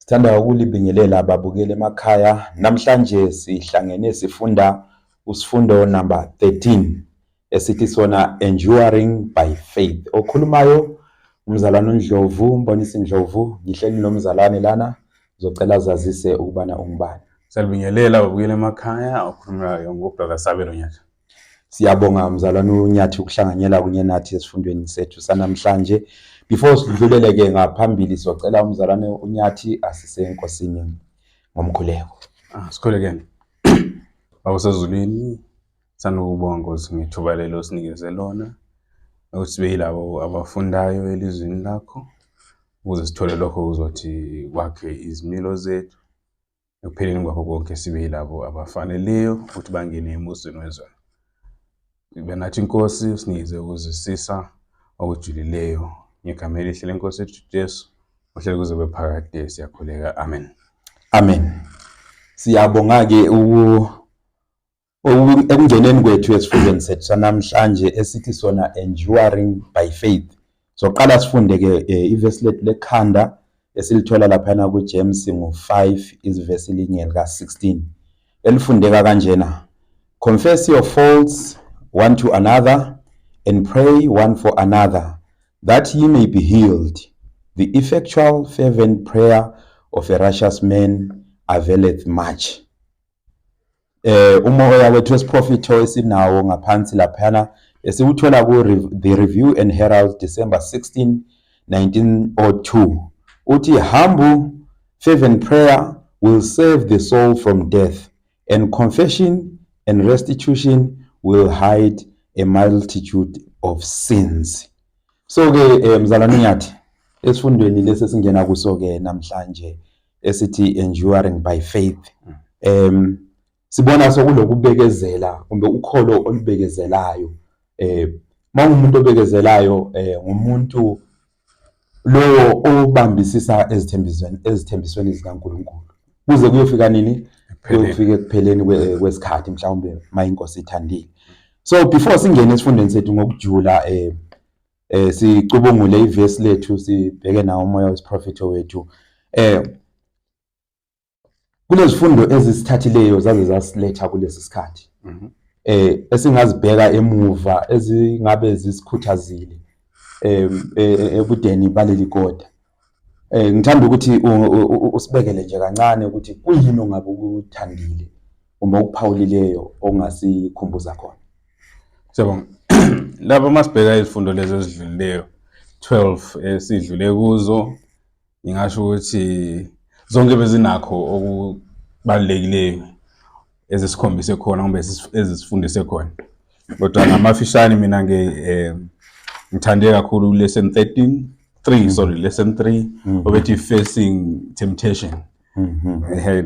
Sithanda ukulibingelela ababukeli emakhaya. Namhlanje sihlangene sifunda usifundo number 13 esithi sona enduring by faith. Okhulumayo umzalwane uNdlovu, mbonisi Ndlovu, ngihleli nomzalwane lana ngizocela zazise ukubana ungubani. Salibingelela babukeli emakhaya, okhulumayo ngobrother Sabelo Nyaka. Siyabonga mzalwane uNyathi ukuhlanganyela kunye nathi esifundweni sethu sanamhlanje. Before sidlulele ke ngaphambili socela umzalwane uNyathi asise enkosini ngomkhuleko. Ah, sikhulekeni. Awusezulwini sanukubonga Nkosi ngethuba lelo osinikeze lona ukuthi sibe yilabo abafundayo elizwini lakho ukuze sithole lokho uzothi kwakhe izimilo zethu ekupheleni kwakho konke sibe yilabo abafaneleyo futhi bangene embusweni wezona ibe nathi inkosi sinikeze ukuzisisa okujulileyo ngegama elihle lenkosi ethu jesu ohlele kuze kube phakade siyakhuleka amen amen siyabonga-ke Ekungeneni kwethu esifundweni sethu sanamhlanje esithi sona enduring by faith. Soqala sifunde ke eh, ivesi lethu lekhanda esilithola laphana kuJames ngo-5 izivesi linye lika-16 elifundeka kanjena confess your faults one to another and pray one for another that ye may be healed the effectual fervent prayer of a righteous man availeth much eh umoya wethu wesiprofitho esinawo ngaphansi laphana esiwuthola ku The Review and Herald December 16 1902 uthi humble fervent prayer will save the soul from death and confession and restitution will hide a multitude of sins so ke eh, mzalwane nyathi esifundweni lesi singena kuso ke namhlanje esithi enduring by faith mm. um sibona sokulokubekezela kumbe ukholo olubekezelayo eh mawumuntu obekezelayo eh ngumuntu lowo obambisisa ezithembisweni ezithembisweni zikaNkuluNkulu kuze kuyofika nini kuyofika ekupheleni kwesikhathi mhlawumbe mayinkosi ithandile so before singene esifundweni sethu ngokujula eh eh sicubungule ivesi lethu sibheke nawo umoya wesiprofetho wethu eh kunezifundo ezisithathileyo zaze zasiletha kulesi sikhathi mhm. eh esingazibheka emuva ezingabe zisikhuthazile eh, eh, eh ebudeni baleli koda Eh ngithanda ukuthi usibekele nje kancane ukuthi kuyini ongabe ukuthandile uma ukuphawulileyo ongasikhumbuza khona. Siyabonga. Lapha masibheka izifundo lezi ezidlulileyo 12 esidlule kuzo ngingasho ukuthi zonke bezinakho okubalulekileyo ezisikhombise khona kumbe ezisifundise khona kodwa ngamafishane mina nge eh, ngithande kakhulu lesson 13 3 mm. sorry lesson 3 mm-hmm. obethi facing temptation mm-hmm. ehe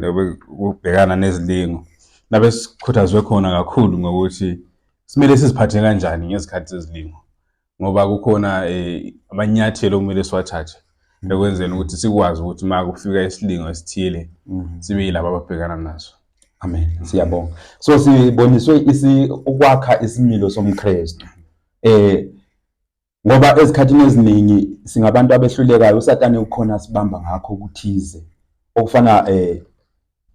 ubhekana nezilingo nabe sikhuthazwe khona kakhulu ngokuthi simele siziphathe kanjani ngezikhathi zezilingo ngoba kukhona eh, amanyathelo okumele siwathathe mm. ekwenzeni ukuthi sikwazi ukuthi uma kufika isilingo esithile mm. sibe yilabo ababhekana naso amen mm. siyabonga so siboniswe ukwakha isimilo somkristu eh ngoba ezikhathini eziningi singabantu abehlulekayo usatane ukhona sibamba ngakho ukuthize okufana eh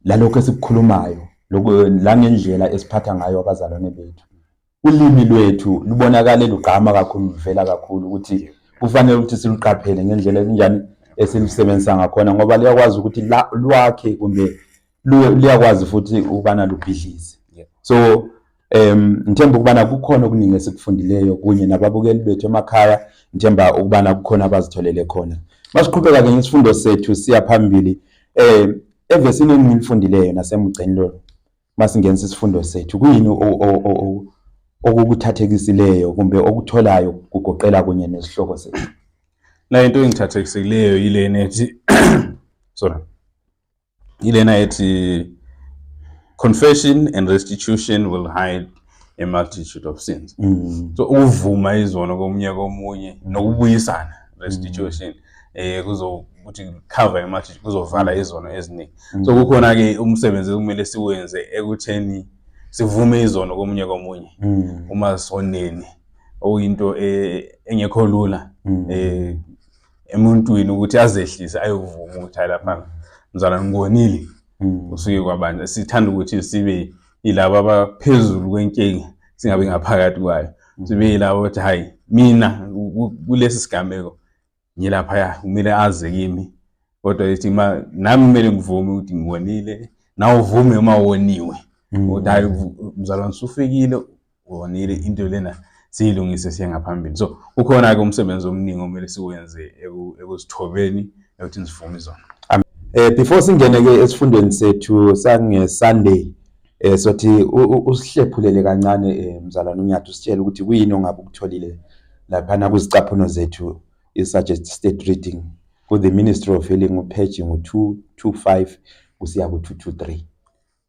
lalokho esikukhulumayo la ngendlela esiphatha ngayo abazalwane bethu ulimi lwethu lubonakale lugqama kakhulu luvela kakhulu ukuthi kufanele ukuthi siluqaphele ngendlela enjani esilusebenzisa ngakhona ngoba liyakwazi ukuthi lwakhe kumbe luyakwazi futhi ukubana lubhidlize so Um ngithemba ukubana kukhona okuningi esikufundileyo kunye nababukeli bethu emakhaya ngithemba ukubana kukhona abazitholele khona masiqhubeka-ke ngesifundo sethu siya phambili um evesini engilifundileyo nasemgceni lolu masingenisa isifundo sethu kuyini okukuthathekisileyo kumbe okutholayo kugoqela kunye nesihloko sethu la into engithathekisekileyo yilena ethi sorry ilena ethi confession and restitution will hide a multitude of sins mm. so ukuvuma izono komunye komunye nokubuyisana restitution mm. eh kuzokuthi cover imathi kuzovala izono eziningi mm. so kukhona ke umsebenzi kumele siwenze ekutheni sivume izono komunye komunye mm. uma soneni okuyinto eh, engekho lula mm. eh emuntwini ukuthi azehlise ayovuma ukuthi hayi lapha mzala ngibonile hmm. usuke kwabanje sithanda ukuthi sibe yilabo abaphezulu kwenkinga singabi ngaphakathi kwayo hmm. sibe yilabo ukuthi hayi mina kulesi sigameko ngilaphaya kumele aze kimi kodwa ithi ma nami kumele ngivume ukuthi ngiwonile nawe uvume uma woniwe hmm. ukuthi hayi mzalwane usufikile Ubonile into lena siyilungise siye ngaphambili. So ukhona-ke umsebenzi omningi omele siwenze ekuzithobeni ekuthini sivume izona. Eh before singene ke esifundweni sethu sange Sunday eh sothi usihlephulele kancane eh, mzalwane uNyathi usitshela ukuthi kuyini ongabe ukutholile lapha na kuzicaphuno zethu i suggested reading ku the Ministry of Healing upage ngo 225 kusiya ku 223.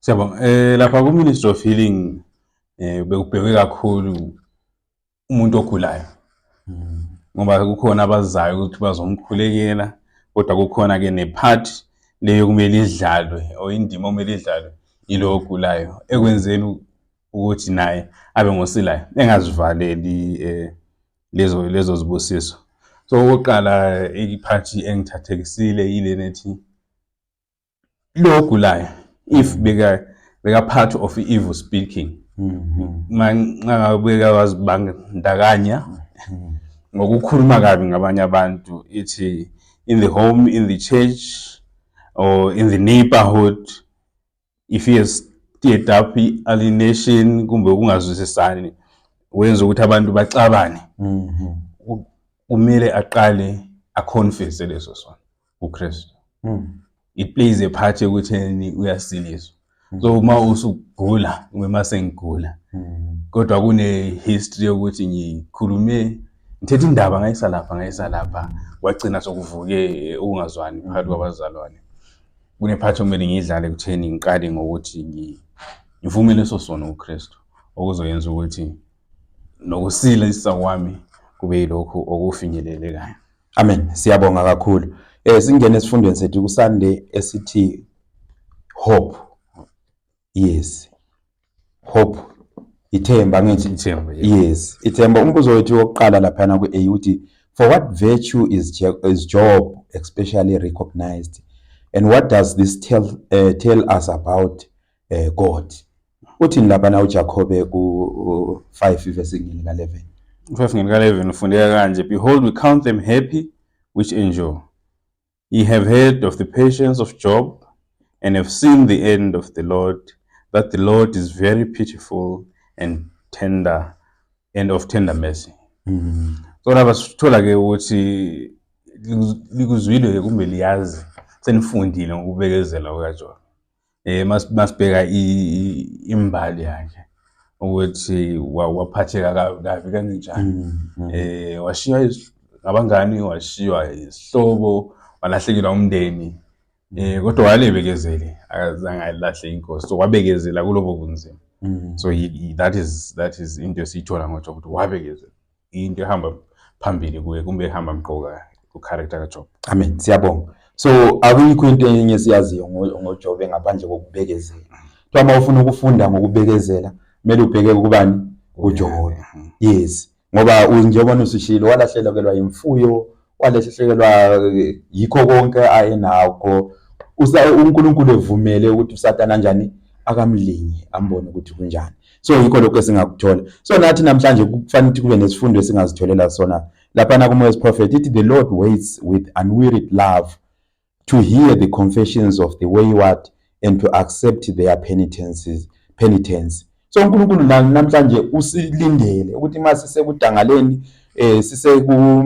Siyabonga. Eh lapha ku Ministry of Healing eh bekubhekwe kakhulu umuntu ogulayo mm. ngoba kukhona abazayo ukuthi bazomkhulekela kodwa kukhona ke nepart leyo kumele idlalwe or indima okumele idlalwe yilo ogulayo ekwenzeni ukuthi naye abe ngosilayo engazivaleli eh lezo lezo zibusiso so okokuqala iphathi engithathekisile yile nethi lo ogulayo if beka beka part of evil speaking manxa beka wazibandakanya ngokukhuluma kabi ngabanye abantu ithi in the home in the church or in the neighborhood if he has stirred up alienation kumbe ukungazwisisani wenza ukuthi abantu baxabane kumele aqale aconfesse leso sona uKristu mm. it plays a part ekutheni uyasiliswa mm. so uma usugula uma sengigula mm. kodwa kune history yokuthi ngikhulume ngithethe indaba ngayisa lapha ngayisa lapha wagcina sokuvuke ukungazwani mm. phakathi kwabazalwane kune part okumele ngiyidlale kutheni ngiqale ngokuthi ngivume leso sono uKristu okuzoyenza ukuthi nokusila isisa kwami kube yilokhu okufinyelelekayo Amen. Siyabonga kakhulu. Eh singene esifundweni sethu kusande esithi hope. Yes. Hope ithemba ngithi ithemba. Yes, ithemba umbuzo wethu wokuqala lapha na ku A uthi for what virtue is Je is Job especially recognized and what does this tell uh, tell us about eh God uthini lapha na uJakobe ku 5 verse 9 ka 11 5 ngene ka 11 ufundeka kanje behold we count them happy which endure ye have heard of the patience of Job and have seen the end of the Lord that the Lord is very pitiful and tender and of tender mercy mm. so laba sithola ke ukuthi likuzwile kumbe liyazi senifundile ngokubekezela kukaJobe Eh masibheka imbali yakhe ukuthi waphatheka kabi kanjani. Mm, mm. Eh washiywa abangani washiywa isihlobo walahlekelwa umndeni. Eh kodwa walebekezele akazange alahle inkosi so wabekezela kulobo kunzima. Mm. So that is that is into esiyithola ngoJobe ukuthi wabekezela. into ehamba phambili kuye kumbe ehamba mqoka ku-character kaJob. Amen. Siyabonga. So akuyikho into enye siyaziyo ngoJob ngaphandle kokubekezela. Kuthiwa uma ufuna ukufunda ngokubekezela kumele ubheke kubani? KuJob. Yes. Ngoba njengoba usushilo walahlekelwa imfuyo, walehlekelwa yikho konke ayenakho uNkulunkulu evumele ukuthi uSathane anjani akamlingi ambone ukuthi kunjani so yikho lokho esingakuthola so nathi namhlanje kufanele ukuthi kube nesifundo esingazitholela sona laphana kumoya prophet ithi the lord waits with unwearied love to hear the confessions of the wayward and to accept their penitences penitence so uNkulunkulu namhlanje usilindele ukuthi uma sisekudangaleni eh siseku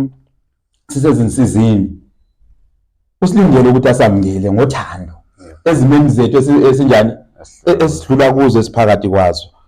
sisezinsizini usilindele ukuthi asamngele ngothando ezimeni zethu esinjani esidlula kuzo esiphakathi kwazo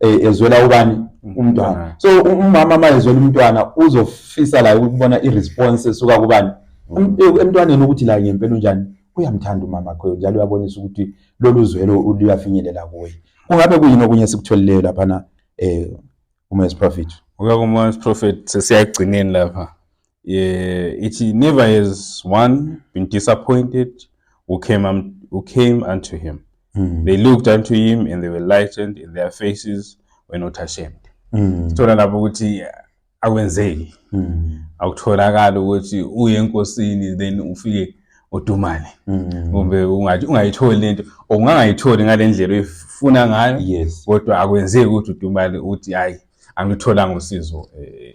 eh, ezwela ubani umntwana so umama uma ezwela umntwana uzofisa la ukubona i-response esuka kubani mm. eh, emntwaneni ukuthi la ngempela unjani uyamthanda umama kho njalo uyabonisa ukuthi lolu zwelo luyafinyelela kuye kungabe kuyini okunye esikutholeleyo laphana um eh, umes prophet uyakumes prophet sesiyagcineni lapha Yeah, ithi never has one been disappointed who came, um, who came unto him. Mm. They looked unto him and they were lightened and their faces were not ashamed. Mm. Sithola lapho ukuthi akwenzeki. Mm. Akutholakala ukuthi uye enkosini then ufike odumane. Mm. Kumbe ungathi ungayitholi lento ongangayitholi ngalendlela oyifuna ngayo. Yes. Kodwa akwenzeki ukuthi udumane uthi hayi angitholanga usizo eh,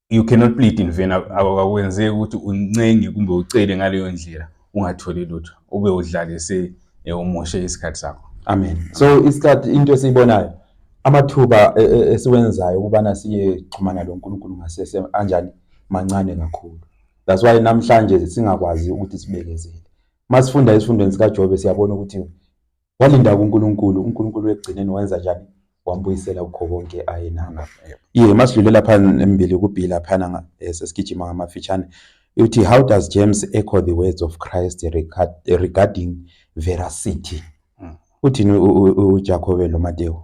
you cannot plead in vain akwenzeki ukuthi uncenge kumbe ucele ngaleyo ndlela ungatholi lutho ube udlalise eh, umoshe isikhathi sakho amen so isikhathi into esiyibonayo amathuba e, e, esiwenzayo ukubana siye xhumana lo Nkulunkulu ngasese anjani mancane kakhulu that's why namhlanje singakwazi ukuthi sibekezele masifunda isifundweni sikaJobe siyabona ukuthi Walinda kuNkulunkulu, uNkulunkulu ekugcineni wenza njani? Wambuyisela kukho konke ayenako. Ye masidlulela phana embili kubhila phana eh, sesigijima ngamafitshane. Uthi how does James echo the words of Christ regarding veracity? Hmm. Uthini uJakobe loMatewu?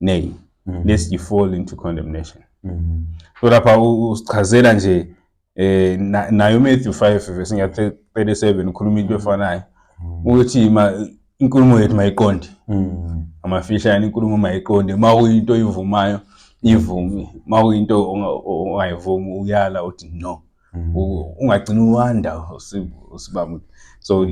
nay mm -hmm. lest you fall into condemnation mm -hmm. so lapha usichazela nje eh nayo Matthew 5 verse 37 ukhuluma into efanayo mm. ukuthi inkulumo yethu mayiqonde mm. amafishane inkulumo mayiqonde uma kuyinto oyivumayo ivume uma kuyinto ongayivumi uyala uthi no mm. ungagcini uwanda usibaba so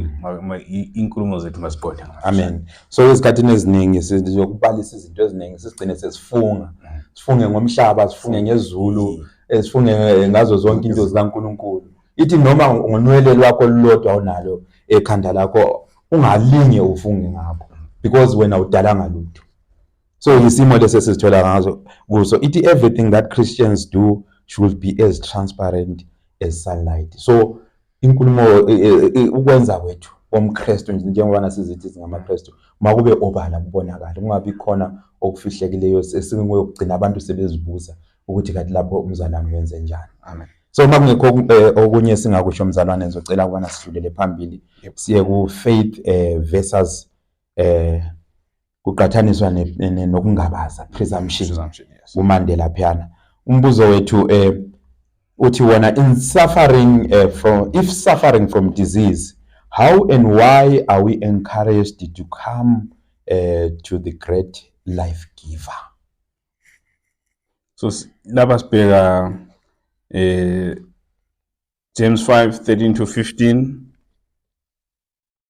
inkulumo zethu masiqonde amen so ezikhathini eziningi sizokubalisa izinto eziningi sisigcine sesifunga mm. sifunge ngomhlaba sifunge ngezulu mm. eh, sifunge eh, ngazo zonke into zikaNkuluNkulu ithi noma ngonwele lwakho lulodwa onalo ekhanda lakho ungalinge ufunge ngakho because wena udalanga lutho so yisimo lesi esizithola ngazo kuso ithi everything that christians do should be as transparent as sunlight so inkulumo e, e, e, ukwenza kwethu komkristu njengobana sizithi singamakristu uma kube obala kubonakala kungabi khona okufihlekileyo esingokugcina abantu sebezibuza ukuthi kathi lapho umzalwane wenze njani amen so uma kungekho eh, okunye singakusho mzalwane ngizocela ukubana sidlulele phambili siye ku faith eh, versus eh, kuqathaniswa nokungabaza presumption kuMandela phiyana umbuzo wethu um uthi wona in suffering uh, from if suffering from disease how and why are we encouraged to come uh, to the great life giver so lapha sibheka eh James 5 13 to 15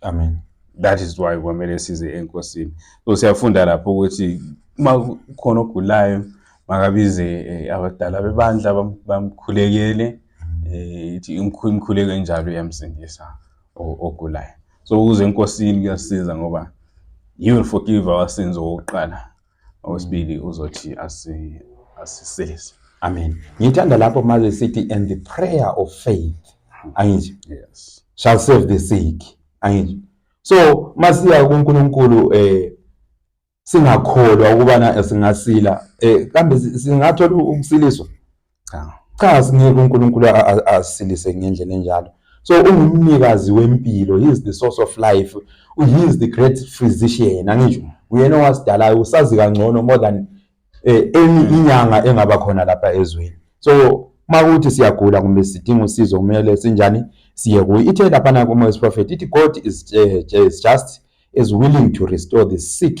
amen that is why kwamele size enkosini so siyafunda lapho ukuthi uma kukhona ogulayo makabize eh, abadala bebandla bamkhulekele eh, ithi imkhuleko enjalo iyamsindisa ogulayo so ukuze enkosini kuyasiza ngoba he will forgive our sins okokuqala Owesibili uzothi asi asisilise. Amen. Ngithanda lapho maze sithi and the prayer of faith. Angisho. Yes. Shall save the sick. Angisho. So masiya kuNkulunkulu eh singakholwa ukubana singasila eh kambe singathola ukusiliswa cha cha sinike uNkulunkulu asilise ngendlela enjalo so ungumnikazi wempilo he is the source of life he is the great physician angisho uyena owasidalayo usazi kangcono more than eh, any hmm. inyanga engaba khona lapha ezweni so makuthi siyagula kumbe sidinga usizo kumele sinjani siye kuye ithe laphana kumoya prophet ithi god is, uh, is just is willing to restore the sick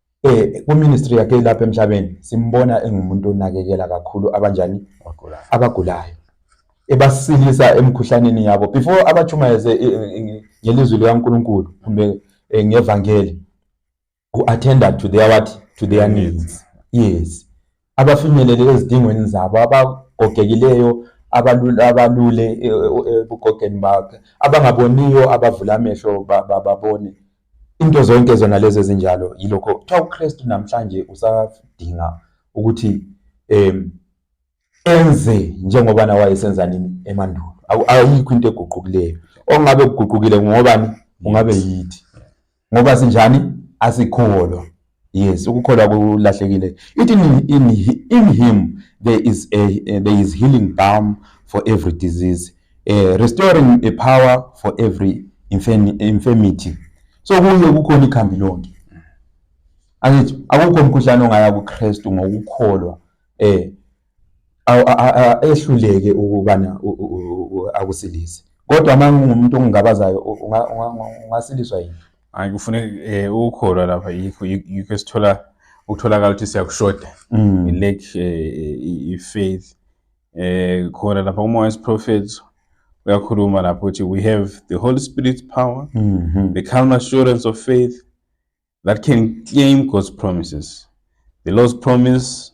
eh kuministry yakhe ilapha emhlabeni simbona engumuntu onakekela kakhulu abanjani abagulayo ebasilisa emkhuhlaneni yabo before abachumayeze eh, eh, eh, ngelizwi likaNkuluNkulu kumbe ngevangeli u attender to their what to their needs yes abafinyelele ezidingweni zabo abagogekileyo abalule e, e, e, ebugogeni bakhe abangaboniyo abavula amehlo babone into zonke zona lezi ezinjalo yilokho kuthiwa uKristu namhlanje usadinga ukuthi em enze njengoba na wayesenza nini emandulo ayikho into eguqukileyo ongabe kuguqukile ngobani ungabe yithi ngoba sinjani asikholwa yes ukukholwa kulahlekile it in, in, in him there is a uh, there is healing balm for every disease uh, restoring a power for every infirm, infirmity so kuye kukhona ikhambi lonke angithi akukho umkhuhlane ongaya kuKristu ngokukholwa eh ehluleke ukubana akusilise kodwa uma ngingumuntu ongingabazayo ungasiliswa yini hayi kufuneka um eh, ukukholwa lapha yikho yikho esithola ukutholakala ukuthi siyakushoda mm. i-lack eh, i-faith um khona lapha kumoya wesiprofethi uyakhuluma lapho ukuthi we have the holy spirit power mm -hmm. the calm assurance of faith that can claim god's promises the lord's promise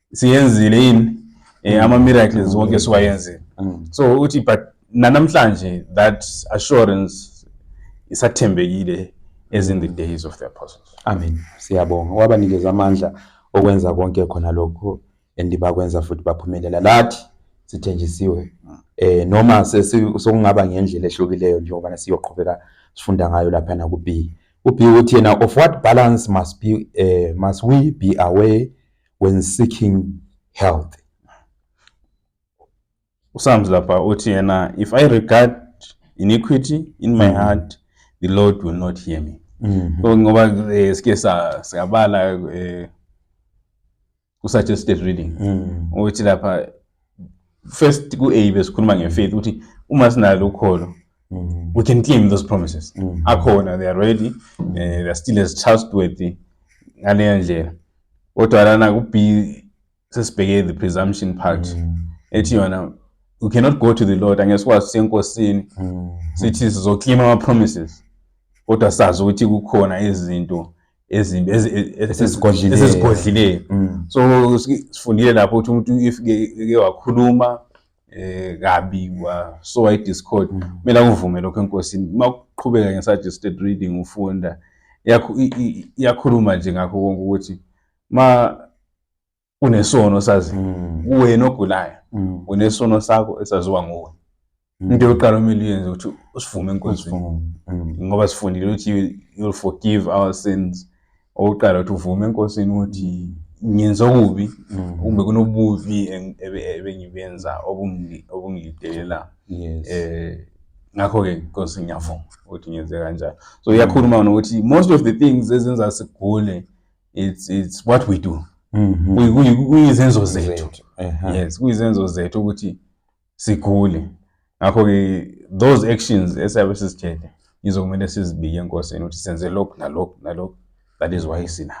siyenzile yini eh, mm. ama-miracles mm. wonke siwayenzile mm. so uthi but nanamhlanje that assurance isathembekile as in the days of the apostles amen siyabonga wabanikeza amandla okwenza konke khona lokho and bakwenza futhi baphumelela lathi sithenjisiwe eh noma sokungaba ngendlela ehlukileyo njengoba siyoqhubeka sifunda ngayo lapha na ku B u B uthi yena of what balance must be eh, must we be aware when seeking health usamzi lapha uthi yena if i regard iniquity in my mm. heart the lord will not hear me mm-hmm. so ngoba eh, sike siyabala eh, ku-suggested reading mm. uthi lapha first ku A besikhuluma nge faith ukuthi uma sinalo ukholo mm. we can claim those promises mm. akhona they are ready mm. uh, they are still as trustworthy ngaleyo ndlela kodwa lana ku B sesibheke the presumption part mm. ethi yona we cannot go to the lord angeke sikwazi senkosini mm. sithi sizoklima ama promises kodwa sazi ukuthi kukhona izinto ezimbi esezigodlile esezigodlile mm. so sifundile lapho ukuthi umuntu if ke wakhuluma eh kabi wa so i discord mm. kumele akuvume lokho enkosini uma uqhubeka nge suggested reading ufunda yakhuluma nje ngakho konke ukuthi ma unesono sazi mm. wena ogulayo mm. unesono sakho esaziwa nguwe mm. into yokuqala omele uyenze ukuthi usivume enkonzweni ngoba sifundile ukuthi you'll forgive our sins okuqala ukuthi uvume enkosini ukuthi ngenza okubi kumbe kunobubi ebengibenza obungidelela um eh, ngakho-ke nkosi ngiyavuma ukuthi ngenze kanjalo so iyakhuluma nokuthi most of the things ezenza sigule it's it's what we do mhm. kuyizenzo zethu yes kuyizenzo zethu ukuthi sigule ngakho ke those actions esiyabe sizitshele izokumele sizibike enkosini ukuthi senze lokhu nalokhu nalokhu that is why sina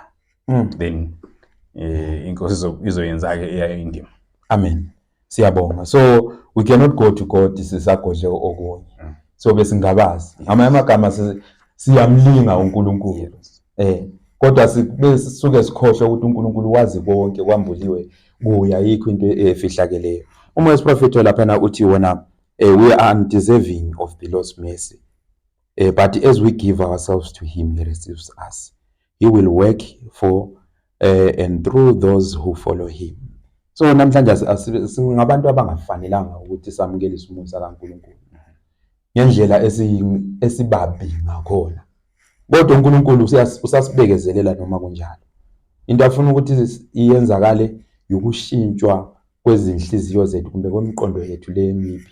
mm. then eh inkosi izoyenza ke eyayo indima amen siyabonga so we cannot go to god sisagodle okunye mm. so besingabazi ngamanye amagama siyamlinga uNkulunkulu eh kodwa sibe sisuke sikhohlwe ukuthi uNkulunkulu wazi konke kwambuliwe kuya yikho into efihlakeleyo uma wesiprofeto lapha na uthi wona eh, we are undeserving of the Lord's mercy eh, but as we give ourselves to him he receives us he will work for eh, and through those who follow him so namhlanje singabantu abangafanelanga ukuthi samukelise umusa kaNkulunkulu ngendlela esibabi ngakhona kodwa uNkulunkulu usasibekezelela noma kunjalo into afuna ukuthi iyenzakale yokushintshwa kwezinhliziyo zethu kumbe kwemiqondo yethu lemibi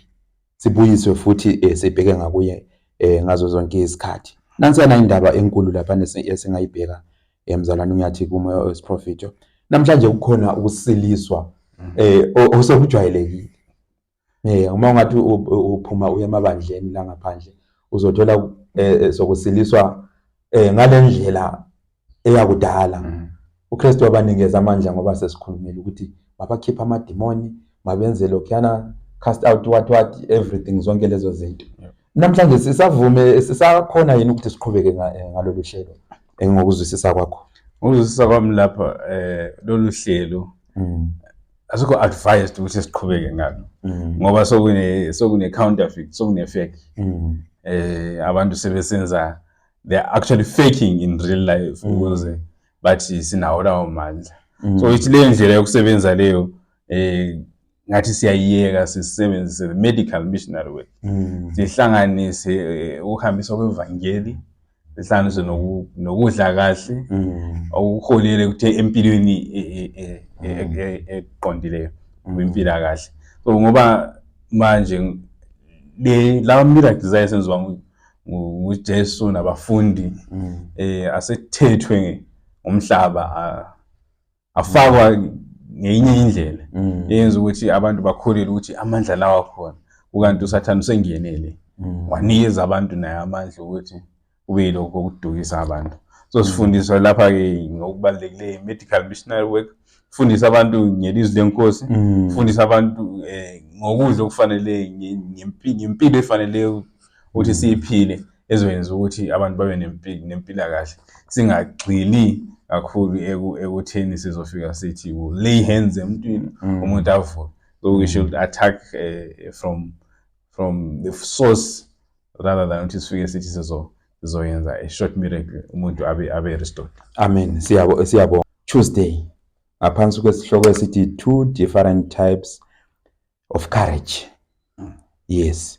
sibuyiswe futhi eh, sibheke ngakuye eh, ngazo zonke izikhathi nansiyana indaba enkulu lapha esingayibheka Eh mzalwane uyathi kumoya wesiprofito namhlanje kukhona ukusiliswa mm. eh osekujwayelekile. Eh uma ungathi uphuma uye emabandleni la ngaphandle uzothola eh, eh, sokusiliswa eh ngalendlela eyakudala. Mm. UKristu wabanikeza amandla ngoba sesikhulumile ukuthi mabakhipha amadimoni mabenze lokhuyana cast out what what everything zonke lezo zinto Namhlanje sisavume sisakhona yini ukuthi siqhubeke eh, ngalolu hlelo eh, ngokuzwisisa kwakho? Ngokuzwisisa kwami lapha eh lolu hlelo mm. asikho advised ukuthi siqhubeke ngalo mm. ngoba sokune sokune counterfeit sokune fake mm. eh abantu sebesenza they are actually faking in real life ukuze bathi sinawo lawo mandla so ithi le ndlela yokusebenza leyo eh ngathi siyayiyeka sisebenzise the medical missionary way mm. sihlanganise eh, ukuhambiswa kwevangeli sihlanganise nokudla kahle mm. okuholele ukuthi empilweni e, e, e, mm. eqondileyo kwimpila kahle so ngoba manje le lawa miracles ayesenziwa nguJesu nabafundi eh asethethwe umhlaba afakwa ngeyinye indlela mm. eyenza ukuthi abantu bakholele ukuthi amandla lawa khona ukanti usathane usengenele mm. wanikeza abantu naye amandla ukuthi kube yilokho okudukisa abantu so mm. sifundiswa lapha-ke ngokubalulekileyo medical missionary work fundisa abantu ngelizwi lenkosi fundisa abantu um ngokudla okufanele ngempilo efaneleyo ukuthi siyiphile ezokwenza ukuthi abantu babe nempilakahle singagxili kakhulu ekutheni sizofika sithi lay hands emntwini mm. umuntu avuke so we should attack uh, from from the source rather than ukuthi sifike sithi sizo sizoyenza a short miracle umuntu abe abe restored amen siyabo siyabo tuesday ngaphansi kwesihloko esithi two different types of courage mm. yes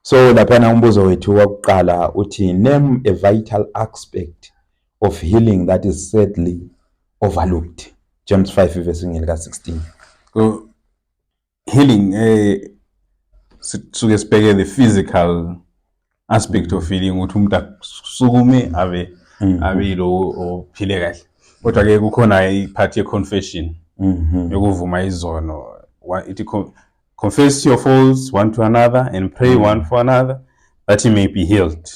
so laphana umbuzo wethu wakuqala uthi name a vital aspect of healing that is sadly overlooked James 5 verse ngelika 16 so healing eh sisuke sibheke the physical aspect of feeling ukuthi umuntu akusukume abe mm-hmm. abe yilowo ophile kahle kodwa ke kukhona i-part ye-confession mm-hmm. yokuvuma izono ithi confess your faults one to another and pray mm-hmm. one for another that he may be healed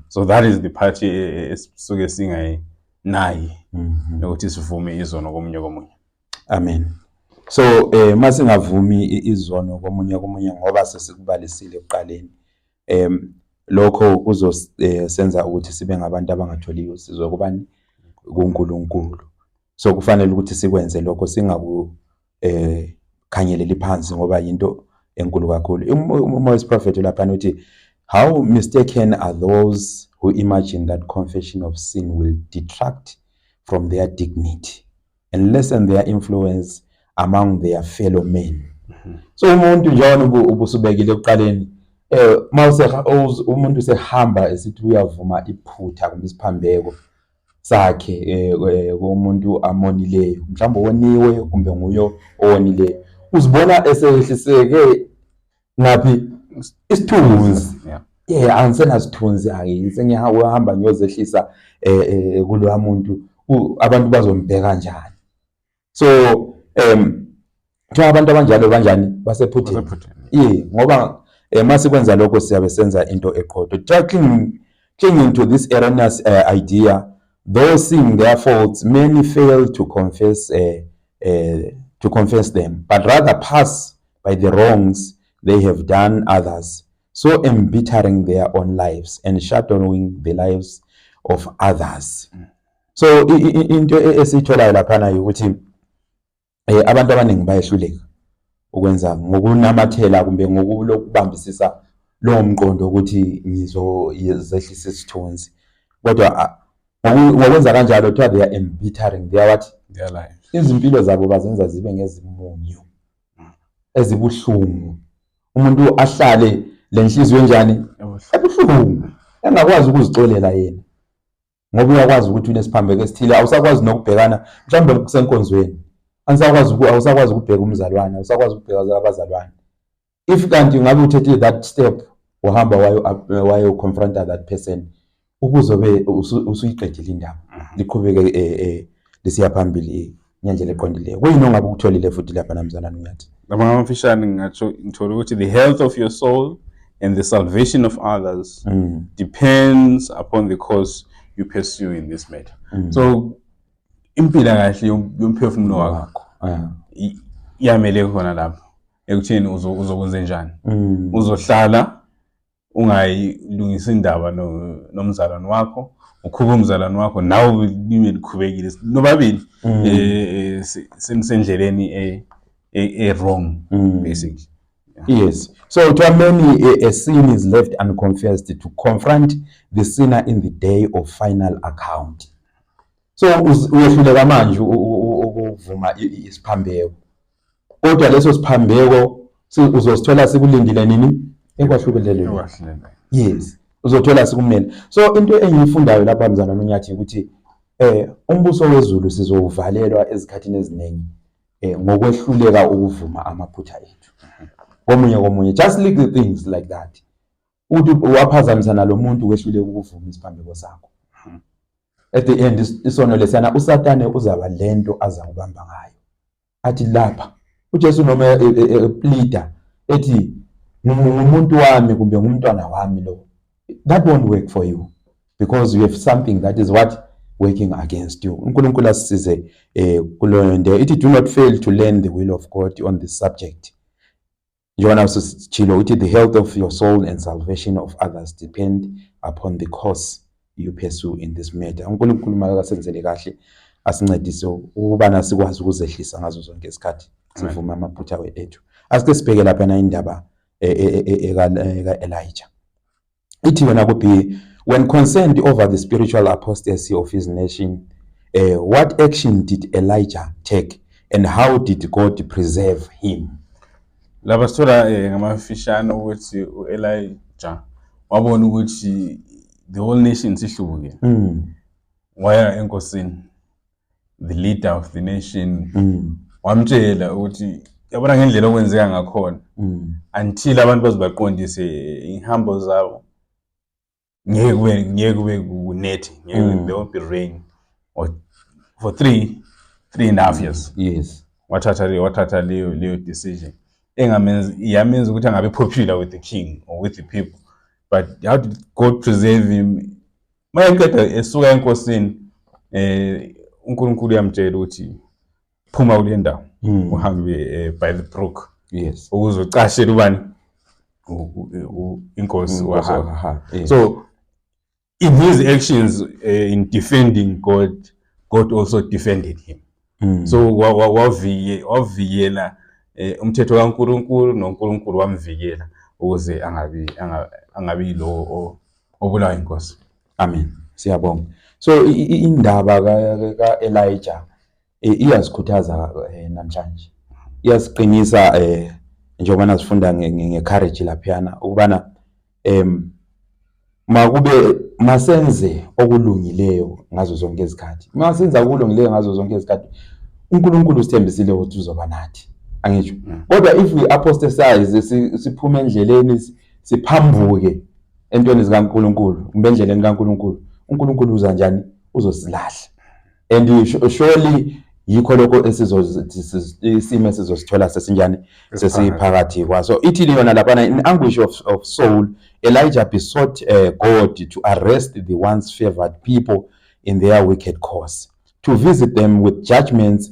so that is the part esisuke singayinayi yokuthi sivume izono komunye komunye Amen. So eh masingavumi izono komunye komunye ngoba sesikubalisile ekuqaleni. Em lokho kuzosenza eh, ukuthi sibe ngabantu abangatholi usizo kubani kuNkulunkulu. So kufanele ukuthi sikwenze lokho singaku eh khangeleli phansi ngoba yinto enkulu kakhulu. Uma wesiprofethi lapha uthi how mistaken are those who imagine that confession of sin will detract from their dignity. and lessen their influence among their fellow men mhm. so umuntu njalo ubusubekile ekuqaleni eh mawuse umuntu sehamba esithi uyavuma iphutha kumbe isiphambeko sakhe eh, eh, komuntu amonileyo mhlawumbe woniwe kumbe nguyo owonileyo uzibona esehliseke Ngaphi isithunzi. Yeah. Yeah, angisenasithunzi angiyi sengiyahamba ngiyozehlisa eh, eh kuloya muntu abantu bazombheka njani. So um kuthiwa abantu abanjalo banjani basephutheni. Yeah, ngoba eh mase kwenza lokho siyabe senza into eqotho. Tackling clinging to this erroneous uh, idea though seeing their faults many fail to confess uh, uh, to confess them but rather pass by the wrongs they have done others so embittering their own lives and shadowing the lives of others mm. so into e-, esiyitholayo laphana ukuthi eh abantu abaningi bayehluleka ukwenza ngokunamathela kumbe ngokulokubambisisa lowo mqondo ukuthi ngizozehlisa isithunzi kodwa ngokwenza kanjalo kuthiwa they are embittering they are what their life izimpilo zabo bazenza zibe ngezimunyu ezibuhlungu umuntu ahlale lenhliziyo enjani ebuhlungu engakwazi ukuzixolela yena ngoba uyakwazi ukuthi unesiphambeko esithile awusakwazi nokubhekana mhlawumbe kusenkonzweni anisakwazi awusakwazi ukubheka umzalwane awusakwazi ukubheka abazalwane if kanti ngabe uthethe that step uhamba wayo wayo confronta that person Ukuzobe usuyiqedile indaba mhm. liqhubeke eh, eh, lisiya phambili eh, ngendlela eqondileyo. Kuyini ongabe ukutholile futhi lapha namzana Nyathi? Ngama amafishane ngingatsho ngithola ukuthi the health of your soul and the salvation of others mm. depends upon the course you pursue in this matter. Mm. So impila kahle yomphefumulo wakho. Yeah. Iyamele khona lapho ekutheni uzokwenze njani. Mm. Uzohlala ungayilungisa indaba nomzalwane wakho ukhube umzalwane wakho nawe libe likhubekile nobabili mm. eh, eh, senisendleleni e, e, e-wrong mm. basically Yes. So to many, a, a sin is left unconfessed to confront the sinner in the day of final account. So uyehluleka manje ukuvuma isiphambeko. kodwa leso siphambeko uzosithola sikulindile nini ekwahlubelelweni yes uzothola sikumele so into engiyifundayo lapha mzana nonyathi ukuthi eh umbuso wezulu sizowuvalelwa ezikhathini eziningi eh ngokwehluleka ukuvuma amaphutha ethu komunye komunye just little things like that uthi waphazamisa nalomuntu wehluleka ukuvuma isiphambeko sakho at the end isono lesiyana usatane uzaba lento aza kubamba ngayo athi lapha uJesu noma e, e, e, eplida ethi ngumuntu wami kumbe ngumntwana wami lo that won't work for you because you have something that is what working against you uNkulunkulu asisize eh kuloyo nto ithi do not fail to learn the will of God on this subject njengoba naso sitshilo ukuthi the health of your soul and salvation of others depend upon the course you pursue in this matter unkulunkulu makasenzele kahle asincedise ukubana sikwazi ukuzehlisa ngazo zonke isikhathi sivume amaphutha ethu asike sibheke lapha na indaba eka-elija e, e, e, ithi yona ku B when concerned over the spiritual apostasy of his nation uh, what action did Elijah take and how did God preserve him laba sithola eh, ngamafishane ukuthi uElijah wabona ukuthi the whole nation sihlubuke mm. waya enkosini the leader of the nation mm. wamtshela ukuthi yabona ngendlela okwenzeka ngakhona mm. until abantu bazibaqondise ihambo zabo ngeke kube ngeke kube kunethi ngeke mm. there won't be rain or for three three and a half years yes wathatha leyo wathatha leyo leyo decision engamenza yamenza ukuthi angabe popular with the king or with the people but how to God preserve him uma eqeda esuka enkosini eh uNkulunkulu uyamtshela ukuthi phuma kule ndawo hmm. uhambe eh, by the brook yes ukuze ucashele ubani inkosi hmm, wahamba so in his actions uh, in defending God God also defended him mm. so wavikela eh, umthetho kaNkuluNkulu noNkuluNkulu wamvikela ukuze angabi angabi lo obulawa inkosi amen siyabonga so indaba ka Elijah eh, iyazikhuthaza eh, namhlanje iyasiqinisa eh njengoba nasifunda ngecourage laphiyana ukubana Em makube masenze okulungileyo ngazo zonke izikhathi. Masenza okulungileyo ngazo zonke izikhathi. UNkulunkulu usithembisile ukuthi uzoba nathi. Angisho. Mm. Kodwa if we apostatize siphuma endleleni siphambuke entweni zikaNkulunkulu, kumbe endleleni kaNkulunkulu, uNkulunkulu uza njani? Uzosilahla. and surely yikho lokho isimo esizosithola sesinjani sesiphakathi kwaso ithini yona laphana in anguish of, of soul elijah besought uh, god to arrest the once favored people in their wicked course to visit them with judgments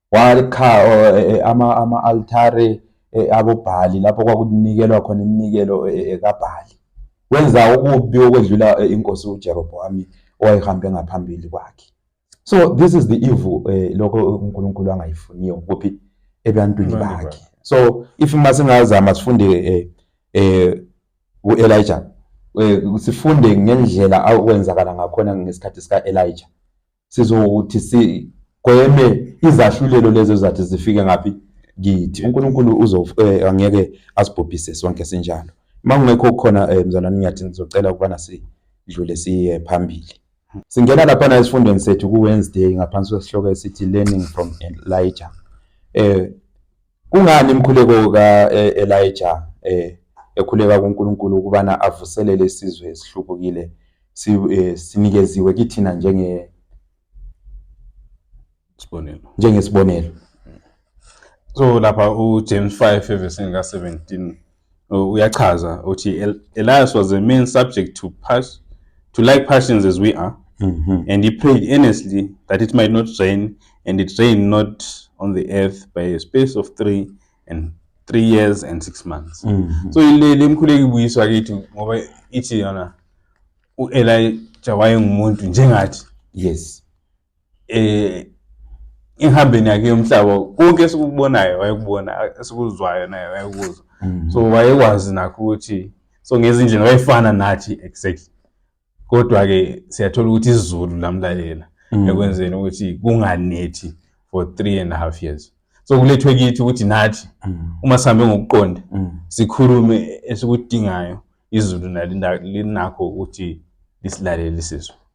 Wakha ama-altare abobhali lapho kwakunikelwa khona iminikelo kabhali wenza okubi okwedlula inkosi uJeroboami owayehambe ngaphambili kwakhe so this is the evil lokho uNkulunkulu angayifuniyo kuphi ebantwini bakhe so if masingazama sifunde eh uElijah Eh, sifunde ngendlela akwenzakala ngakhona ngesikhathi sika-Elijah sizothi sigweme izahlulelo lezo zathi zifike ngaphi kithi uNkulunkulu uzo eh, angeke asibhubhise sonke sinjalo uma kungekho khona eh, mzalwane ngiyathi ngizocela ukubana sidlule siye phambili singena laphana esifundweni sethu ku-wednesday ngaphansi kwesihloko esithi learning from elijah um Kungani imkhuleko ka-Elija eh, eh, ekhuleka kuNkulunkulu ukubana avuselele isizwe esihlubukile eh, sinikeziwe kithina njenge sibonelo njengesibonelo so lapha uJames 5 evesini ka-17 uyachaza uthi Elias was a man subject to pass to like passions as we are mm -hmm. and he prayed earnestly that it might not rain and it rained not on the earth by a space of three and three years and six months mm -hmm. so ile lemkhuleki buyiswa kithi ngoba ithi yona uElijah wayengumuntu njengathi yes eh ehambeni yakhe yomhlaba konke esikubonayo wayekubona esikuzwayo naye wayekuzwa mm. so wayekwazi nakho ukuthi so ngezindlela wayefana nathi exactly kodwa-ke siyathola ukuthi izulu lamlalela mm. ekwenzeni ukuthi kunganethi for three and a half years so kulethwe kithi ukuthi nathi mm. uma sihambe ngokuqonda sikhulume esikudingayo izulu nalinakho ukuthi lisilalele sizwe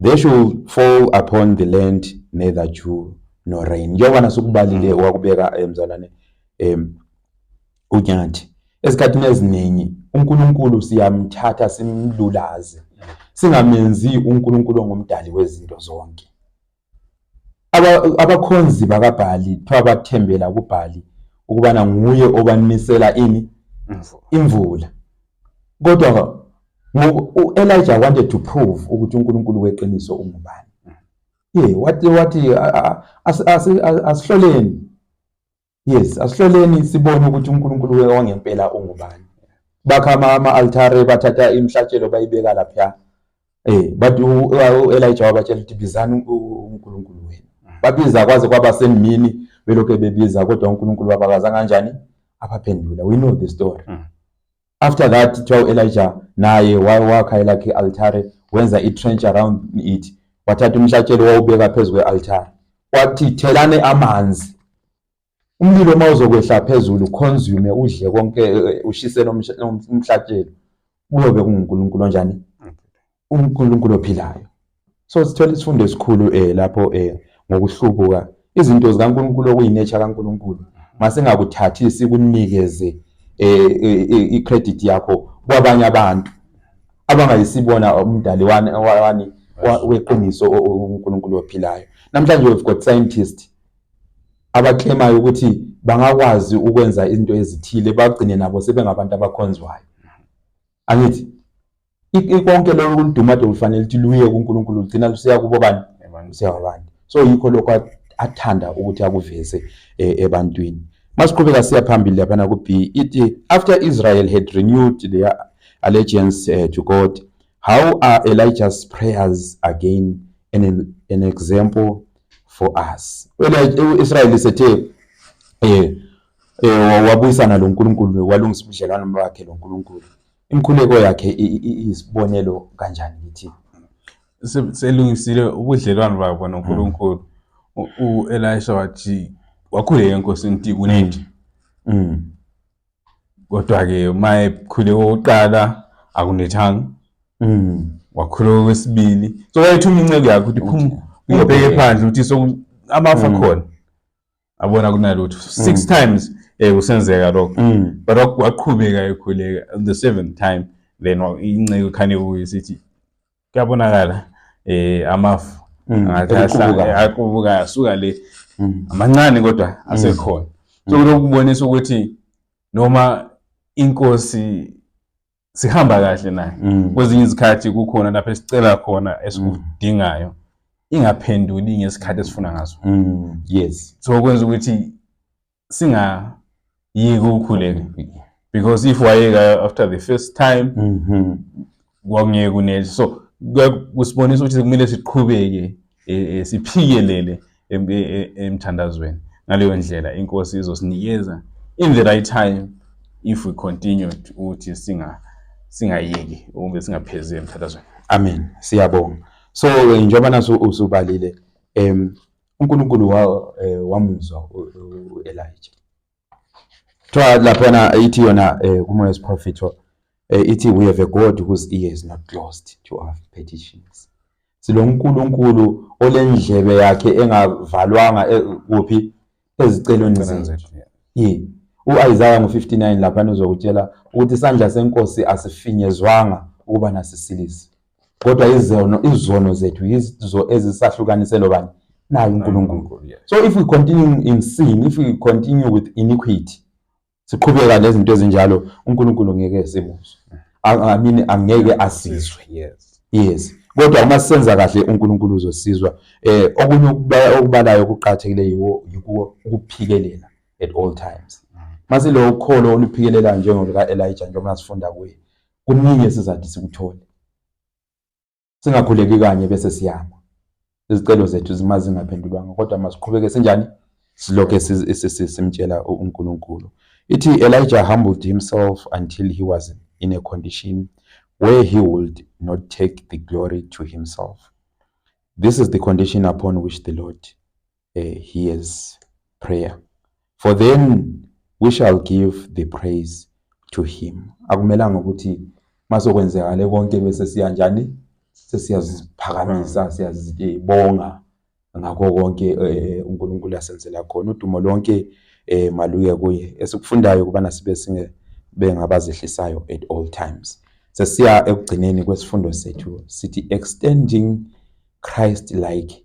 They should fall upon the land neither dew nor rain. Njengoba nasukubalile mm. wakubeka eh, mzalwane em uNyathi. Esikhathini eziningi uNkulunkulu siyamthatha simlulaze. Singamenzi uNkulunkulu ongumdali wezinto zonke. Abakhonzi bakaBhali kuthiwa bathembela kuBhali ukubana nguye obanisela ini imvula. kodwa u-Elijah wanted to prove ukuthi uNkulunkulu weqiniso ungubani ye wathi wathi asihloleni yes asihloleni sibone ukuthi uNkulunkulu we wangempela ungubani bakha ama-altare bathatha imihlatshelo bayibeka lapha Eh but uElijah wabatshela ukuthi bizani uNkulunkulu wenu. Mm. Babiza kwaze kwaba semini belokhu bebiza kodwa uNkulunkulu babakaza kanjani? Abaphendula. We know the story. Mm. After that kuthiwa uElijah naye wakha elakhe altare wenza i-trench around it wathatha umhlatshelo wawubeka phezu kwe-altare wathi thelane amanzi Umlilo uma uzokwehla phezulu uconsume udle konke eh, ushise umhlatshelo kuyobe kunguNkulunkulu onjani? UNkulunkulu ophilayo. So sithola isifundo esikhulu um lapho um ngokuhlubuka izinto zikaNkulunkulu okuyinature kaNkulunkulu masingakuthathi sikunikeze um i-credit yakho kwabanye abantu abangayisibona umdali wani weqiniso uNkulunkulu ophilayo. Namhlanje we've got scientist abaklemayo ukuthi bangakwazi ukwenza izinto ezithile bagcine nabo sebengabantu abakhonzwayo angithi konke lokho kuludumade kufanele ukuthi luye kuNkulunkulu lugcina lusiya kubo bani lusiya kwabantu so yikho lokho athanda ukuthi akuveze eh, ebantwini masiqhubeka siya phambili laphana ku-b ithi after israel had renewed their allegiance eh, to god how are elijah's prayers again an, an example for us wena uIsrael sethe eh eh wabuyisana lo Nkulunkulu walungisa ubudlelwano bakhe lo Nkulunkulu imkhuleko yakhe isibonelo kanjani kithi selungisile ubudlelwano babo noNkulunkulu uElisha wathi wakhuleka enkosini ukuthi kunenje mm. kodwa-ke uma ekhule kokuqala akunethanga mm. wakhule kwesibili so wayethuma inceke yakho ukuthi phuma uyobheke phandle ukuthi so amafa mm. khona abona kunalutho six mm. times eh kusenzeka lokho but waqhubeka ekhuleka the seventh time then inceke khane kuye sithi kuyabonakala eh amafu mm, aqubuka eh, asuka le mm. amancane kodwa mm. asekhona so lokubonisa ukuthi noma inkosi sihamba kahle naye kwezinye izikhathi kukhona lapho esicela khona esikudingayo ingaphenduli ngesikhathi esifuna ngaso yes so kwenza ukuthi singayiki ukukhuleka because if wayeka after the first time mhm. kwakungeke kunele so kusibonisa ukuthi kumele siqhubeke e, e, siphikelele e, emthandazweni ngaleyo ndlela inkosi izosinikeza in the right time if we continue ukuthi singa singayeki ube singaphezi emthandazweni amen siyabonga so njengoba naso usubalile em uNkulunkulu wa, eh, wamuzwa uElija kuthiwa laphana ithi yona eh, kumoya wesiprofetho eh, ithi we have a god whose ear is not closed to our petitions silo nkulunkulu olendlebe yakhe engavalwanga eh, kuphi ezicelweni zethu yini uIsaiah ngo59 lapha uzokutshela ukuthi isandla senkosi asifinyezwanga ukuba nasisilise kodwa izono izono zethu yizo ezisahlukanise lobani naye uNkulunkulu so if we continue in sin if we continue with iniquity siqhubeka nezinto ezinjalo uNkulunkulu ngeke simuzwe i mean angeke asizwe yes yes kodwa uma senza kahle uNkulunkulu uzosizwa eh okunye okubalayo okuqhathekile yiwo yikuwo ukuphikelela at all times mm. masilokho kholo oluphikelelayo njengolika Elijah njengoba sifunda kuye Kuningi esizade sikuthole. Singakhuleki kanye bese siyama. Izicelo zethu zima zingaphendulwanga kodwa masiqhubeke sinjani? Silokhe simtshela uNkulunkulu. Ithi Elijah humbled himself until he was in a condition where he would not take the glory to himself. This is the condition upon which the Lord uh, hears prayer for then we shall give the praise to him akumelanga ukuthi masokwenzekale konke bese siya njani sesiyaziphakamisa siyazibonga ngakho konke eh, uNkulunkulu asenzela khona udumo lonke eh, maluye kuye esikufundayo kubana sibe singe bengabazehlisayo at all times sesiya ekugcineni kwesifundo sethu sithi extending Christ like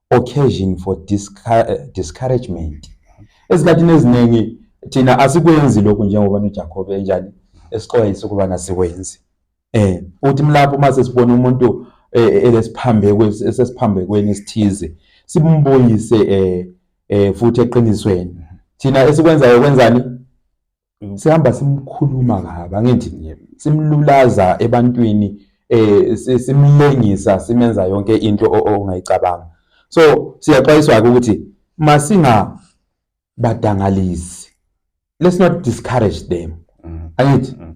occasion for eh, discouragement ezikhathini eziningi thina asikwenzi lokhu njengoba noJakobe enjani esixwayisa ukuba nasikwenzi eh uthi mlapho uma sesibona umuntu eh, elesiphambeko esesiphambekweni esithize simbuyise eh, eh futhi eqinisweni thina esikwenzayo kwenzani sihamba simkhuluma kabi angithi nje simlulaza ebantwini eh simlengisa simenza yonke into ongayicabanga so siyaxwayiswa ukuthi masinga badangalisi let's not discourage them mm. angithi mm.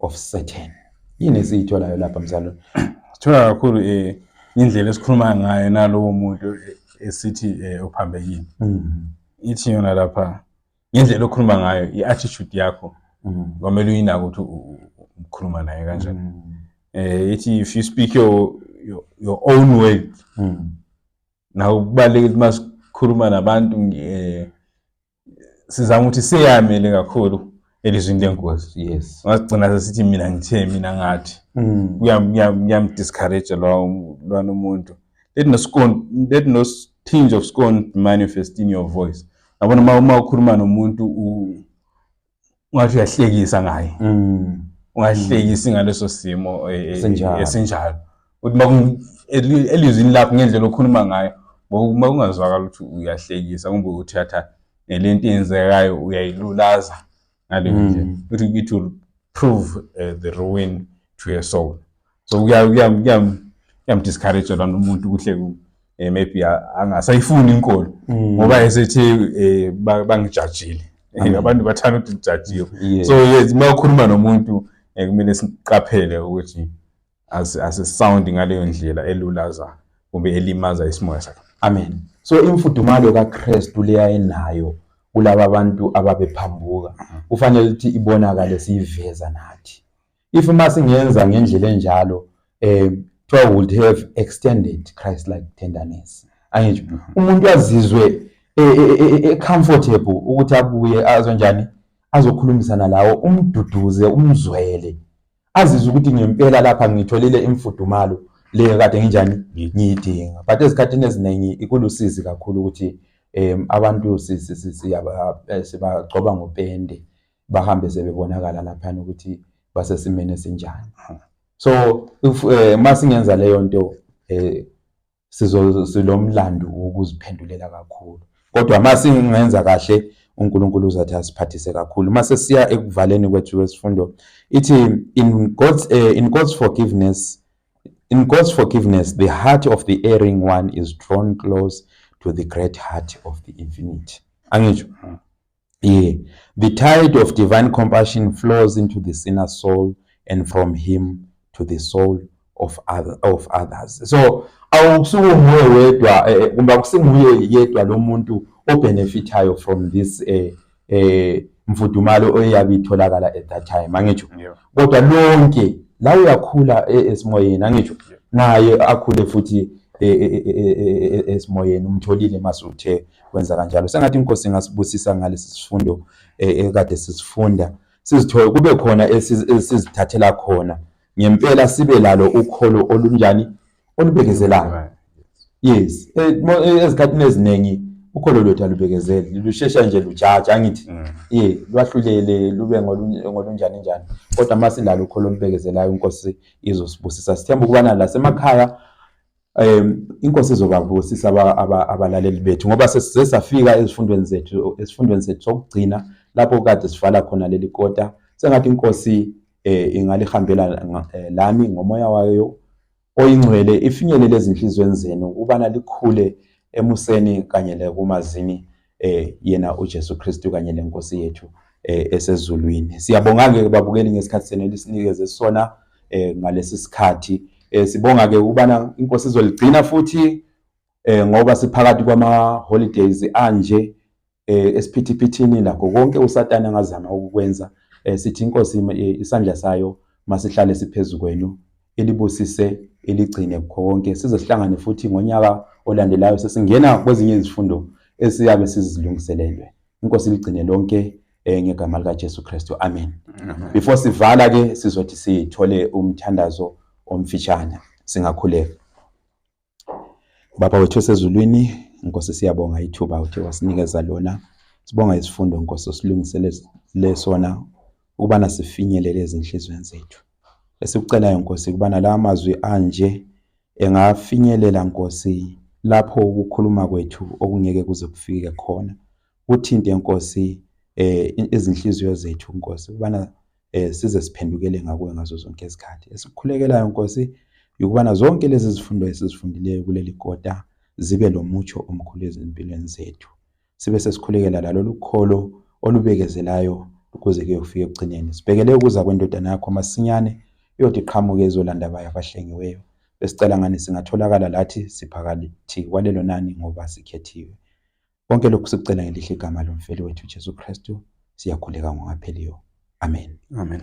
of Satan. Yini esiyitholayo lapha mzalwane? Sithola kakhulu eh indlela esikhuluma ngayo nalowo muntu eh, esithi eh, uphambekile. Mm. Ithi yona lapha ngendlela okhuluma ngayo i-attitude yakho Mm. kwamele uyinake ukuthi u- u- u- ukhuluma naye kanjani. Mm. Eh ithi if you speak your your, your own way Mm. nawe kubalulekile uma sikhuluma nabantu eh sizama ukuthi seyamele kakhulu elizwini lenkosi yes ngasigcina sesithi mina ngithe mina ngathi mm. kuyamdiscourage lwana umuntu let no scorn let no tinge of scorn manifest in your voice yabona uma uma ukhuluma nomuntu ungathi uyahlekisa ngaye mm. ungahlekisi mm. ngaleso simo e, e, esinjalo uthi uma elizwini lakho ngendlela okhuluma ngayo uma ungazwakala ukuthi uyahlekisa kumbe uthatha nelento eyenzekayo uyayilulaza ngaleyo mm. ndlela ukuthi it will prove uh, the ruin to your soul so kuyamdiscourage lona umuntu kuhle ku eh, maybe angasayifuni inkolo mm. ngoba esethi eh, bangijajile eh, abantu bathanda ukuthi ngijajiwe so uma ukhuluma nomuntu kumele siqaphele ukuthi asisawundi ngaleyo ndlela elulaza kumbe elimaza isimoya sakhe amen so imfudumalo kakristu leya enayo kulaba bantu ababephambuka kufanele ukuthi ibonakale siyiveza nathi If uma singenza ngendlela enjalo eh kuthiwa would have extended Christ like tenderness. Angisho umuntu azizwe e, e, e, comfortable ukuthi abuye azonjani azokhulumisana lawo umduduze umzwele azizwe ukuthi ngempela lapha ngitholile imfudumalo le kade nginjani ngiyidinga but ezikhathini eziningi ikulusizi kakhulu ukuthi um abantu siyabagcoba eh, ngopende bahambe sebebonakala laphana ukuthi basesimeni esinjani so if eh, uma singenza leyo nto eh sizolomlando wokuziphendulela kakhulu kodwa uma singenza kahle uNkulunkulu uzathi asiphathise kakhulu uma sesiya ekuvaleni kwethu kwesifundo ithi in God's uh, in God's forgiveness in God's forgiveness the heart of the erring one is drawn close to the great heart of the infinite angisho Yeah. The tide of divine compassion flows into the sinner's soul and from him to the soul of, other, of others. So awukusuke unguye wedwa eh, eh, kumbe akusinguye yedwa lo muntu obenefithayo from this eh, eh, mfudumalo oyabe itholakala at that time angitsho yeah. kodwa lonke la uyakhula eh, esimoyeni angitsho yeah. naye akhule futhi esimoyeni umtholile masuthe kwenza kanjalo sengathi inkosi ingasibusisa ngalesi sifundo eh, ekade sisifunda sizithole kube khona esizithathela khona ngempela sibe lalo ukholo olunjani olubekezelayo yes eh, eh, ezikhathini eziningi ukholo lwethu alubekezeli lushesha nje lujaja angithi mm. ye lwahlulele lube ngolunjani njani kodwa uma silalo ukholo olubekezelayo inkosi izosibusisa sithemba ukubana lasemakhaya um inkosi izobabusisa abalaleli bethu ngoba sesafika ezifundweni zethu esifundweni sethu sokugcina lapho kade sivala khona leli kota sengathi inkosi eh ingalihambela eh, lami ngomoya wayo oyingcwele ifinyelele ezinhlizweni zenu ukubana likhule emuseni kanye lekumazini eh yena uJesu Kristu kanye lenkosi yethu eh esezulwini siyabonga ke babukeli ngesikhathi senu elisinikeze sona eh ngalesi sikhathi eh sibonga ke ukubana inkosi izoligcina futhi eh ngoba siphakathi kwama holidays anje eh esiphithi-phithini lakho konke uSatana angazama ukukwenza eh sithi inkosi isandla sayo masihlale siphezulu kwenu elibusise eligcine kukho konke size sihlangane futhi ngonyaka olandelayo sesingena kwezinye izifundo esiyabe sizilungiselelwe inkosi ligcine lonke eh, ngegama likaJesu Kristu amen before sivala ke sizothi sithole umthandazo omfishane singakhuleka Baba wethu esezulwini Nkosi siyabonga ithuba uthi wasinikeza lona sibonga isifundo Nkosi osilungisele lesona ukubana sifinyelele ezinhlizweni zethu esikucelayo Nkosi ukubana la mazwi anje engafinyelela Nkosi lapho ukukhuluma kwethu okungeke kuze kufike khona kuthinte Nkosi eh izinhliziyo zethu Nkosi ubana eh size siphendukele ngakuwe ngazo zonke izikhathi esikhulekelayo Nkosi ukubana zonke lezi zifundo esizifundileyo kuleli kota zibe lomutsho omkhulu ezimpilweni zethu sibe sesikhulekela lalolu kholo olubekezelayo ukuze kuyofika ekugcineni sibhekele ukuza kwendodana yakho masinyane iyothi qhamuke izolanda bayo abahlengiweyo besicela ngani singatholakala lathi siphakathi kwalelo nani ngoba sikhethiwe Konke lokhu sikucela ngelihle igama lomfeli wethu Jesu Kristu, siyakhuleka ngokungapheliyo. Amen. Amen.